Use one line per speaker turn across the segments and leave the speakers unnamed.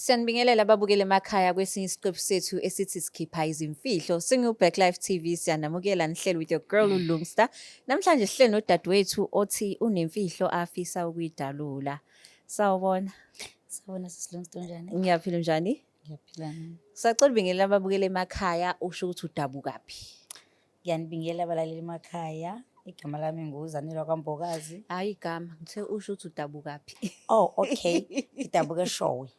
Siyanibingelela babukeli emakhaya kwesinye isiqephu sethu esithi sikhipha izimfihlo singu-Black Life TV siyanamukela nihleli with your girl mm. uLungsta namhlanje sihleli nodadewethu othi unemfihlo afisa ukuyidalula sawubona sawubona
sisilungsta unjani ngiyaphila unjani
ngiyaphila
sacela ubingelela
ababukeli emakhaya usho ukuthi udabukaphi Ngiyanibingela
abalaleli emakhaya. Igama lami nguZanelwa kwaMbokazi. Hhayi igama, ngithe
usho ukuthi udabukaphi. Oh, okay.
Ngidabuka eShowe.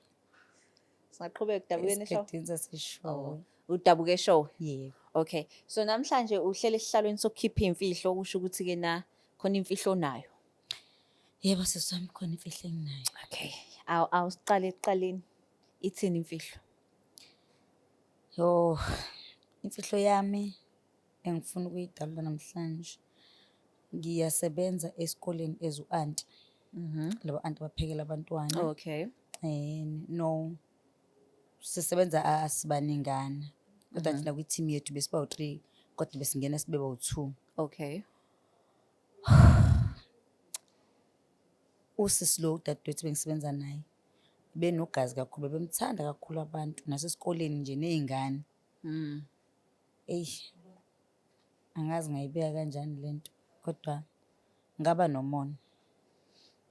Singaqhubeka udabukeni eShowe? Esigidini saseShowe.
Oh, udabuka eShowe?
Yebo. Okay.
So
namhlanje uhlele esihlalweni sokukhipha imfihlo okusho ukuthi ke na khona imfihlo onayo. Yebo
sisi wami khona imfihlo enginayo. Okay. Awu
awusiqale ekuqaleni. Ithini imfihlo?
Yoh, imfihlo yami engifuna ukuyidalula namhlanje. Ngiyasebenza esikoleni as u-anti, laba anti abaphekela abantwana. Okay. Eh,
no,
sisebenza a- asibaningana, kodwa nje nakwi-team yethu besiba u-three, kodwa besingena sibe bawu-two. Okay. Usisi lo udadewethu bengisebenza naye, benogazi kakhulu bebemthanda kakhulu abantu nasesikoleni nje ney'ngane mm. eyi angazi ngayibeka kanjani le nto kodwa ngaba nomona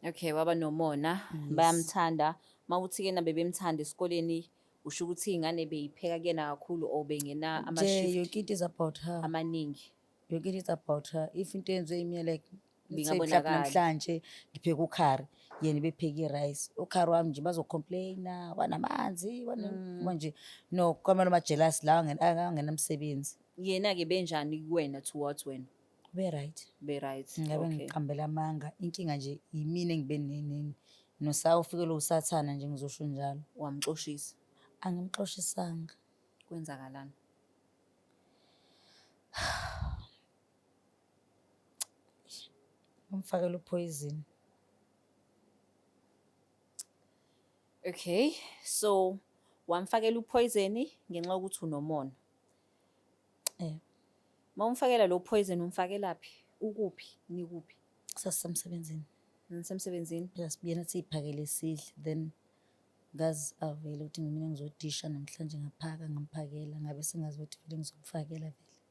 okay waba nomona yes. bayamthanda uma uthi kena bebemthanda esikoleni usho ukuthi iy'ngane beyipheka kuyena kakhulu or bengena amashift yoke it is about her
amaningi
yoke it is about
her if into yenziwe imina like bingabonakali
namhlanje
ngipheka ukhari yena bepheke i-rice ukhari wami nje bazocomplaina wanamanzi mm. manje no kwamele majelasi lawa angenamsebenzi yena-ke
benjani kuwena towards wena be-right
be-right ngabe
ngiqambela
amanga inkinga nje yimina engibe nenini nosawu ufikelwe usathana nje ngizosho njalo wamxoshisa
angimxoshisanga
kwenzakalani Umfakela uphoyizini.
Okay, so wamfakela uphoyizeni ngenxa yokuthi unomona. Eh. Uma umfakela lo phoyizeni umfakelaphi? Ukuphi? Nikuphi? Sasemsebenzini.
Nisemsebenzini?
Yes, biyena
siyiphakele isidle then ngazi avele ukuthi mina ngizodisha namhlanje ngaphaka ngamphakela ngabe sengazi ukuthi vele ngizomfakela vele.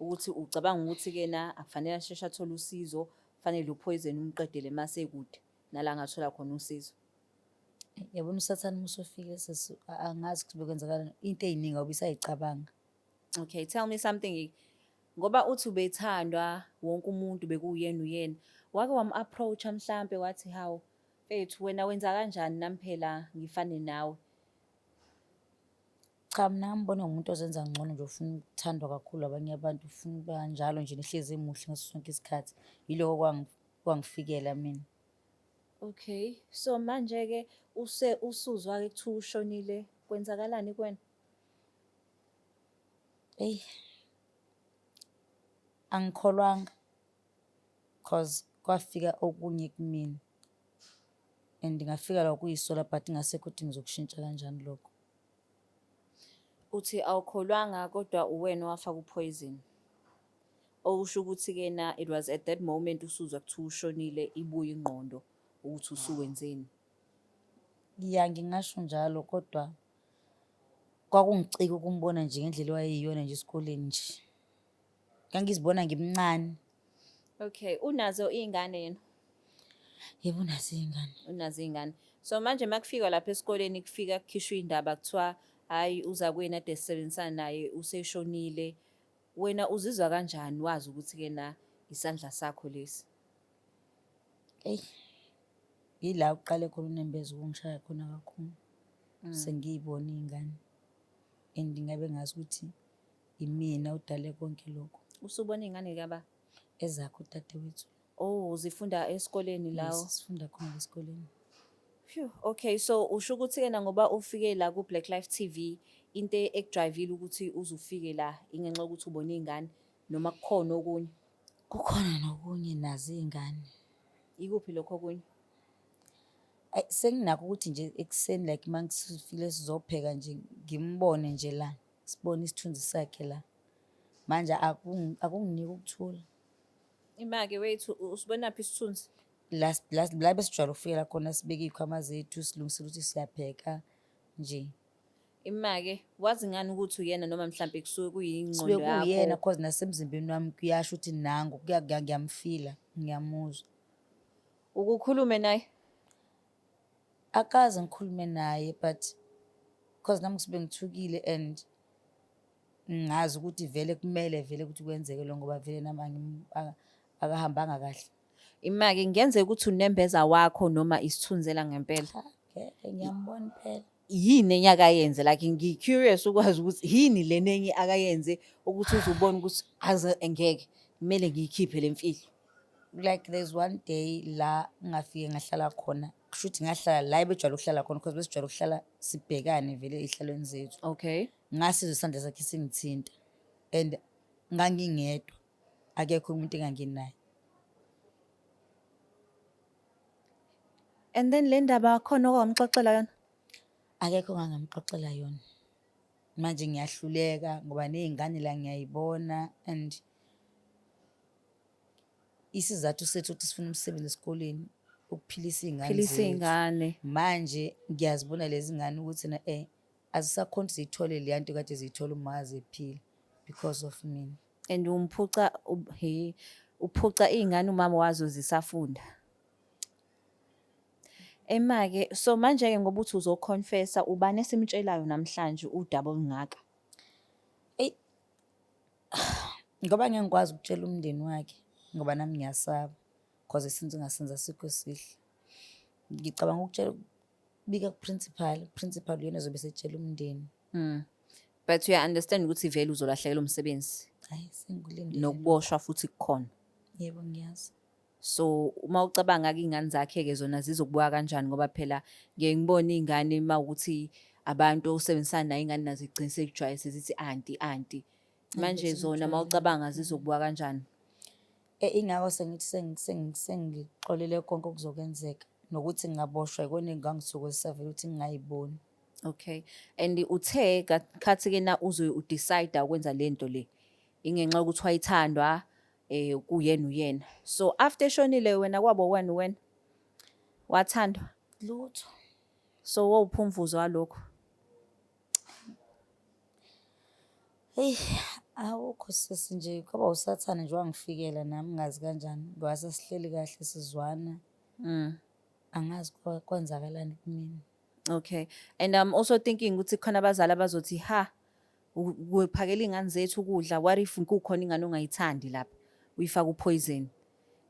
ukuthi ucabanga ukuthi kena akufanele asheshe athole usizo fanele uphoyizeni umqedele mase kude nala ngathola khona usizo
yabona usathane uma usufike sesi angazi ukuthi bekwenzakala into eyiningi awubisayicabanga okay
tell me something ngoba uthi ubethandwa wonke umuntu bekuyena uyena wake wam-approacha mhlampe wathi hawu mfethu wena wenza kanjani nami phela ngifane nawe
Cha mina ngambona ngumuntu ozenza ngcono nje ufuna ukuthandwa kakhulu abanye abantu ufuna uba njalo nje nihlezi emuhle ngaso sonke isikhathi yiloko kwangi- kwangifikela mina Okay.
So manje ke use usuzwa ke kuthiwa ushonile kwenzakalani kuwena? eyi
angikholwanga cause kwafika okunye kumina and ngafika la kuyisola but ngasekho ukuthi ngizokushintsha kanjani lokho Uthi
awukholwanga kodwa uwena owafaka uphoyizini. Okusho ukuthi-kena it was at that moment usuzwa kuthiwa ushonile ibuye ingqondo ukuthi usuwenzeni. Ya ngingasho
njalo kodwa kwakungicika ukumbona nje ngendlela owayeyiyona nje esikoleni nje. ngangizibona ngimncane okay
unazo iy'ngane yena yebo
unazo iy'ngane unazo iy'ngane
so manje uma kufikwa lapha esikoleni kufika kukhishwa iy'ndaba kuthiwa hhayi uza kwena ade sisebenzisana naye useshonile wena uzizwa kanjani wazi ukuthi-ke na isandla sakho lesi eyi
yila uqale khona unembeza ukungishaya khona kakhulu mm. sengiyibona iy'ngane and ngabe ngazi ukuthi Imina udale konke lokhu. Usubona ingane kaba
ezakho dadewethu.
Oh,
zifunda
esikoleni
lawo. Yes,
sifunda khona esikoleni.
Phew, okay so usho ukuthi kena ngoba ufike la ku Black Life TV into ekudrivile ukuthi uzufike la ingenxa ukuthi ubona izingane noma kukhona okunye. Kukhona
nokunye nazi izingane. Ikuphi
lokho okunye? Ay
senginakho ukuthi nje ekuseni like mangifile sizopheka nje ngimbone nje la. sibone isithunzi sakhe la manje akunginiki ukuthula imake
wethu usibonaphi isithunzi la
besijwayele ukufikela khona sibeke iy'khwama zethu silungisela ukuthi siyapheka nje imake
wazi ngani ukuthi uyena noma mhlawumbe kusuke kuyingqondo yakho sibe kuyena cause
nasemzimbeni
wami
kuyasho ukuthi nangu ngiyamfila ngiyamuzwa
ukukhulume naye akaze
ngikhulume naye but because nami ngisuke ngithukile and ngazi ukuthi vele kumele vele ukuthi kwenzeke lo ngoba vele nami angim- aka- akahambanga kahle Imake ngenzeka
ukuthi unembeza wakho noma isithunzela ngempela. Cha, ngeke
ngiyambona impela yini enye
akayenze like ngi-curious ukwazi ukuthi yini lena enye akayenze ukuthi uzubona ukuthi aze engeke kumele ngiyikhiphe le mfihlo like there's
one day la ngafike ngahlala khona kusho ukuthi ngahlala la ebejwayele ukuhlala khona because besijwayele ukuhlala sibhekane vele ey'hlalweni zethu okay ngasizwa
isandla sakhe
singithinta and ngangingedwa akekho umuntu enganginaye
And then le ndaba khona okwamxoxela yona? Akekho
ongangamxoxela yona. Manje ngiyahluleka ngoba nezingane la ngiyayibona and isizathu sethu ukuthi sifuna umsebenzi esikoleni ukuphilisa iy'ngane manje ngiyazibona lezi ngane ukuthi na um azisakhona ukuthi ziyithole leya nto kade ziyithola uma ziphila because of mina. and umphuca
u- he uphuca iy'ngane umama wazo zisafunda emake so manje-ke ngoba uthi uzoconfessa ubani esimtshelayo namhlanje udaba olungaka
Ngoba ngeke ngikwazi ukutshela umndeni wakhe ngoba nami ngiyasaba cause since ngasenza sikho esihle. Ngicabanga ukutshela ukubika kuprincipal, uprincipal uyena ozobe esetshela umndeni. Mm.
But uya understand ukuthi vele uzolahlekelwa umsebenzi Hayi sengulindele.
nokuboshwa futhi
kukhona. Yebo ngiyazi.
So
uma ucabanga ke ingane zakhe ke zona zizokubuka kanjani ngoba phela ngiye ngibone ingane mawukuthi abantu osebenzisana nayo ingane nazo igcine sekujwayele sezithi anti anti manje Angizizwa zona uma ngitholakala. ucabanga zizokubuka kanjani E, ingakho
sengithi sengi- sengi- sengixolele konke okuzokwenzeka nokuthi ngingaboshwa yikona engangithokozisavele ukuthi ngingayiboni okay
and uthe ka- khathi ke na uzoye udecide ukwenza le nto le ingenxa yokuthi wayithandwa um kuyena uyena so after eshonile wena kwabo wena uwena wathandwa lutho
so
wowuphumvuzo walokho
Eyi awukho sisi nje kwaba usathane nje wangifikela nami ngazi kanjani ngoba sasihleli kahle sizwana. Mm. Angazi kwa- kwenzakalani kumina. Okay.
And I'm also thinking ukuthi khona abazali abazothi ha u- kuphakela ingane zethu ukudla what if kukhona ingane ongayithandi lapha uyifaka upoison.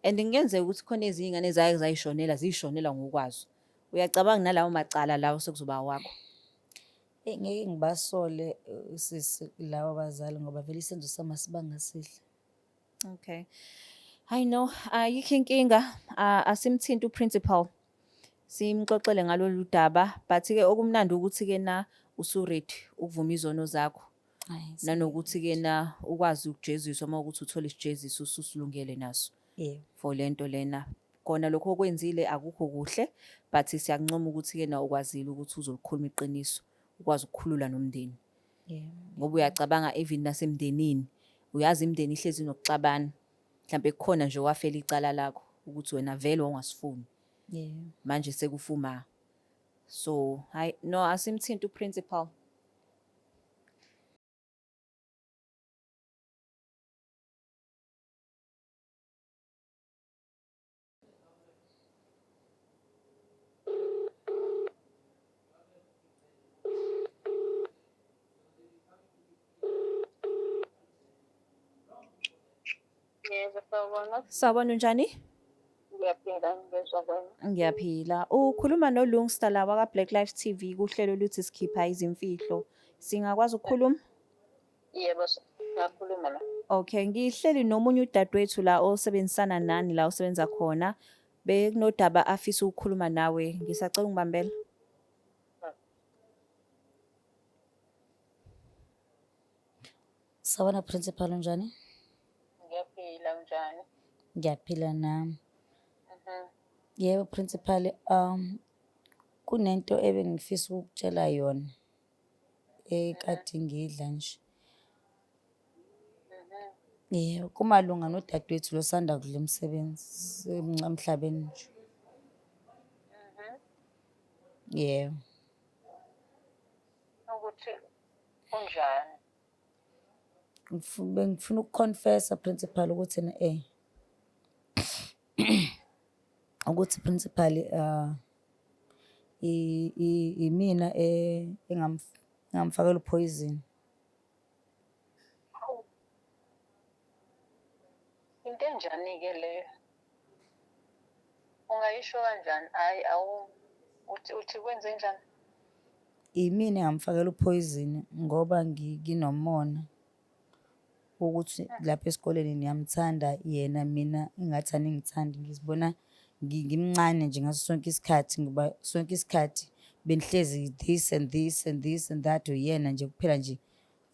And ngenzeka ukuthi khona ezinye ingane zaye zayishonela zishonela ngokwazo. Uyacabanga nalawo macala lawo sekuzoba awakho. Eyi
ngeke ngibasole uh, sisi lawa bazali ngoba vele isenzo sami asibanga sihle.
Okay. I know ayikho inkinga ah, asimthinti uprincipal. Simxoxele ngalolu daba but ke okumnandi ukuthi ke na usuready ukuvuma izono zakho Ayi, nanokuthi ke na ukwazi ukujeziswa uma ukuthi uthola isijeziso ususilungele naso. yeah. for lento
lena
kona lokho okwenzile akukho kuhle but siyakuncoma ukuthi ke na ukwazile ukuthi uzolikhuluma iqiniso ukwazi ukukhulula nomndeni yeah.
ngoba uyacabanga
even nasemndenini uyazi imndeni ihlezi nokuxabana mhlawumbe kukhona nje wafela icala lakho ukuthi wena vele wangasifuni yeah.
manje sekufuma
so hayi no asimthinta uprincipal
Yebo, sawubona. Sawubona unjani?
Ngiyaphila
ngizwa kwena. Ngiyaphila.
Ukhuluma noLungsta la waka Black Life TV kuhlelo luthi sikhipha izimfihlo. Singakwazi ukukhuluma? Yebo, ngakhuluma la. Okay, ngihleli nomunye udadewethu la osebenzisana nani la
osebenza
khona. Bekunodaba afisa ukukhuluma nawe. Ngisacela ungibambela.
Sawona principal unjani? Ngiyaphila
unjani? Ngiyaphila
nami. Mhm.
Yebo
principal um kunento ebengifisa ukukutshela yona. ekade ngidla nje. Yebo, kumalunga nodadewethu lo osanda kudla umsebenzi, semncane emhlabeni nje. Yebo.
ukuthi unjani Ngifu-
Bengifuna ukukhonfesa principal ukuthi na eh ukuthi principal uh, imina e, engamfakela uphoyizini
into enjani-ke leyo ungayisho kanjani hhayi awu uthi uthi kwenze njani
yimina engamfakela uphoyizini ngoba nginomona ukuthi lapha esikoleni niyamthanda yena mina ingathi aningithandi ngizibona ngi- ngimncane nje ngaso sonke isikhathi ngoba sonke isikhathi benihlezi this and this and this and that uyena nje kuphela nje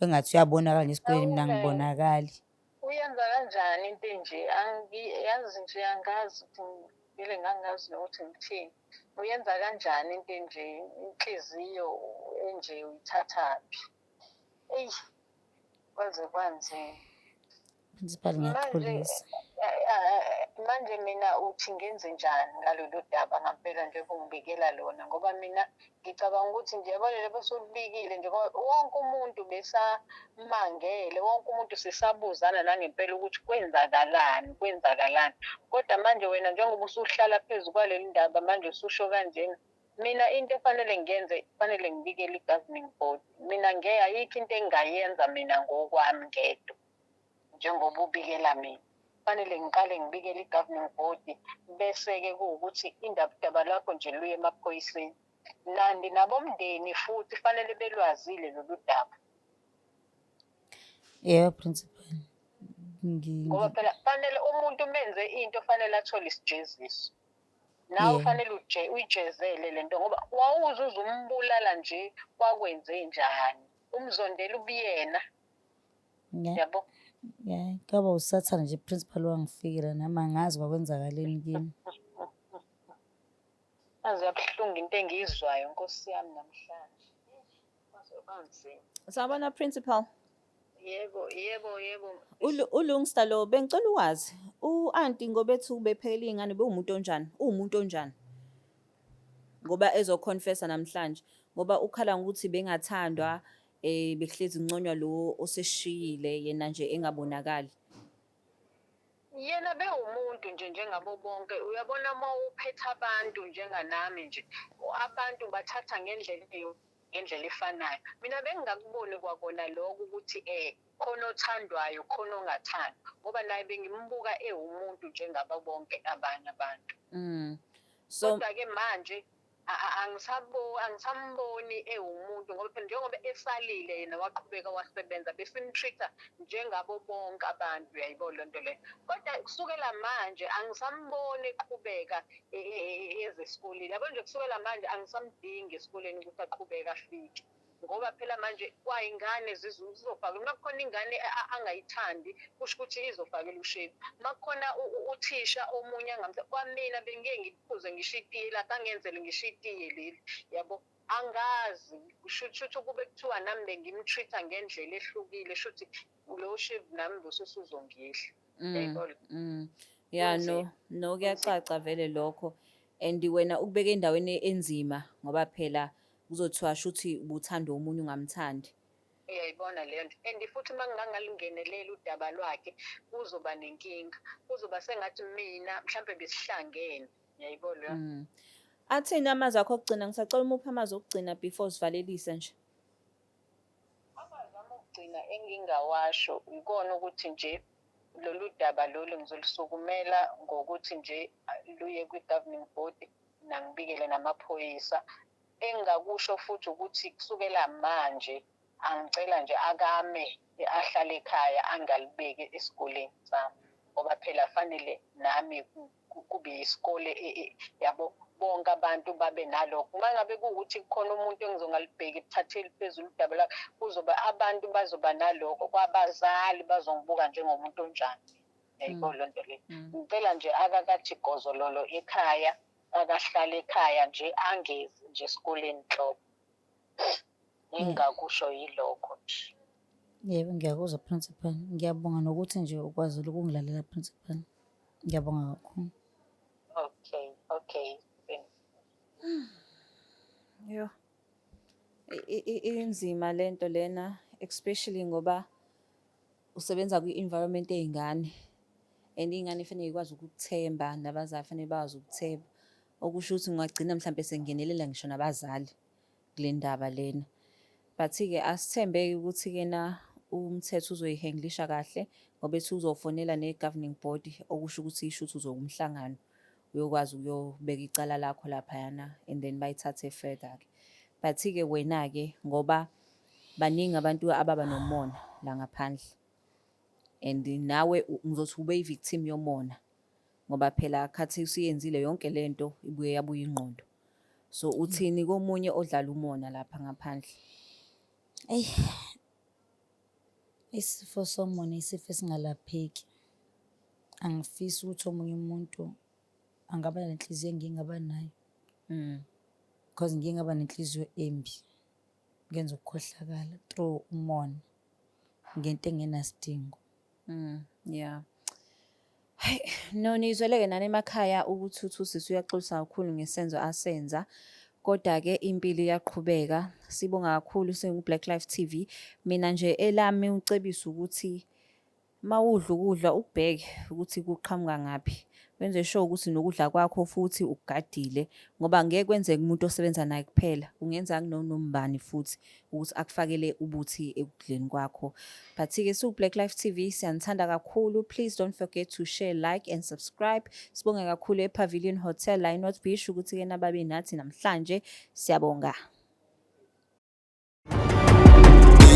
engathi uyabonakala nje esikoleni mina Awume. ngibonakali uyenza
kanjani into enje Angi- yazi nje angazi ukuthi ngivele ngangazi nokuthi ngithini uyenza kanjani into enje inhliziyo enje uyithathaphi eyi kwaze kwanzima principal
ngiyaxolisa
manje mina uthi ngenze njani ngalolu daba ngampela nje kungibikela lona ngoba mina ngicabanga ukuthi nje balele besulubikile nje wonke umuntu besamangele wonke umuntu sisabuzana nangempela ukuthi kwenzakalani kwenzakalani kodwa manje wena njengoba usuhlala phezu kwaleli ndaba manje ususho kanjena mina into efanele ngiyenze kufanele ngibikele i-governing board mina nge ayikho into engingayenza mina ngokwami ngedwa njengoba ubikela mina kufanele ngiqale ngibikele i-governing board bese-ke kuwukuthi indabudaba lakho nje luye emaphoyiseni nandi nabomndeni futhi fanele belwazile lolu daba
yebo principal
ngoba phela fanele umuntu umenze into fanele athole isijeziso nawe Yeah. fanele uje- uyijezele le nto ngoba wawuze uze umbulala nje wakwenze njani umzondela ubuyena Nge- yabo nge-
Kaba usathane nje principal wangifikela nami angazi kwakwenzakaleni kimi.
aze yabuhlungu into engiyizwayo nkosi yami namhlanje Sawubona principal.
Yebo,
yebo, yebo.
Ulungsta lo bengicela ukwazi u-anti ngoba ethi ubephekela iy'ngane bewumuntu onjani? Uwumuntu onjani? Ngoba ezoconfessa namhlanje ngoba ukhala ngokuthi bengathandwa um bekuhlezi kunconywa lo oseshiyile yena nje engabonakali.
yena bewumuntu nje njengabo bonke uyabona uma uphetha abantu njenganami nje abantu bathatha ngendlela ngendlela efanayo mina bengingakuboni kwakona lokho ukuthi um khona othandwayo khona ongathandwa ngoba naye bengimbuka ewumuntu njengaba bonke abanye abantu mm. so kodwa-ke manje angisamboni ewumuntu ngoba phela njengoba esalile yena waqhubeka wasebenza besimtreat-a njengabo bonke abantu uyayibo loo nto leyo kodwa kusukela manje angisamboni eqhubeka e, e, e, eze esikoleni yabo nje kusukela manje angisamdingi esikoleni ukuthi aqhubeke afike ngoba phela manje kwayingane zizofaka uma kukhona ingane angayithandi kusho ukuthi izofakela ushevu uma kukhona uthisha omunye angamsa kwamina bengike ngiphuze ngisho itiye lapho angenzele ngisho itiye leli yabo angazi kusho ukuthi ukube kuthiwa nami bengimtreat-a ngendlela ehlukile sho ukuthi lo shevu nami losusu uzongidla mm, yayibona mm. ya no
no kuyacaca vele lokho and wena ukubeka endaweni enzima ngoba phela Kuzothiwa shuthi ubuthanda omunye ungamthandi. Uyayibona
leyo nto and futhi uma ngingangalingenelela udaba lwakhe kuzoba nenkinga, kuzoba sengathi mina mhlampe besihlangene, uyayibona leyo nto. Mm. Athini
amazwi akho okugcina? Ngisacela umuphi amazwi okugcina before sivalelise nje?
Amagama okugcina engingawasho yikona ukuthi nje lolu daba lolu ngizolisukumela ngokuthi nje luye kwi-governing body nangibikele namaphoyisa engingakusho futhi ukuthi kusukela manje angicela nje akame ahlale ekhaya angalibeki esikoleni sami ngoba phela fanele nami kube yisikole e, e, yabo bonke abantu babe nalokho uma ngabe kuwukuthi kukhona umuntu engizongalibheki ebuthatheli phezulu udaba lakho kuzoba abantu bazoba nalokho kwabazali bazongibuka njengomuntu onjani yayiko mm. loo nto le mm. ngicela nje akakathi gozololo ekhaya akahlale ekhaya nje angezi nje esikoleni nhlobo ngingakusho yilokho nje yebo
ngiyakuzwa principal ngiyabonga nokuthi nje ukwazile ukungilalela principal Ngiyabonga kakhulu. Okay, okay.
Yo. I- i- i- Inzima lento lena especially ngoba usebenza kwi-environment ey'ngane and iy'ngane fanele ikwazi ukukuthemba nabazali fanele bakwazi ukuthemba okusho ukuthi ungagcina mhlawumbe sengenelela ngisho nabazali kule ndaba lena but-ke asithembeke ukuthi-ke na umthetho uzoyihenglisha kahle ngoba ethi uzofonela ne-governing body okusho ukuthi isho ukuthi uzokumhlangano uyokwazi ukuyobeka icala lakho laphayana and then bayithathe further-ke but-ke wena-ke ngoba baningi abantu ababa nomona la ngaphandle and nawe ngizothi ube yi-victim yomona ngoba phela khathi usuyenzile yonke le nto ibuye yabuye ingqondo So uthini komunye odlala umona lapha ngaphandle?
Eyi, isifo somona isifo esingalapheki. Angifisi ukuthi omunye umuntu angaba nenhliziyo engike ngaba nayo Mm. because ngike ngaba nenhliziyo embi. Ngenza ukukhohlakala through umona ngento engenasidingo. Mm,
yeah. Hayi, no nizweleke nani emakhaya ukuthi uthi usisi uyaxolisa kakhulu ngesenzo asenza. Kodwa-ke impilo iyaqhubeka. Sibonga kakhulu singu-Black Life TV. Mina nje elami ucebisa ukuthi uma udla ukudla ukubheke ukuthi kuqhamuka ngaphi. Wenze sure ukuthi nokudla kwakho futhi ukugadile ngoba ngeke kwenzeke umuntu osebenza naye kuphela. Kungenzeka kunonombani futhi. ukuthi akufakele ubuthi ekudleni kwakho but-ke siwu-black life tv siyanithanda kakhulu please don't forget to share like and subscribe sibonge kakhulu epavilion hotel la inorth beach ukuthi-ke nababe nathi namhlanje siyabonga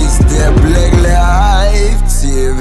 It's the Black Life TV.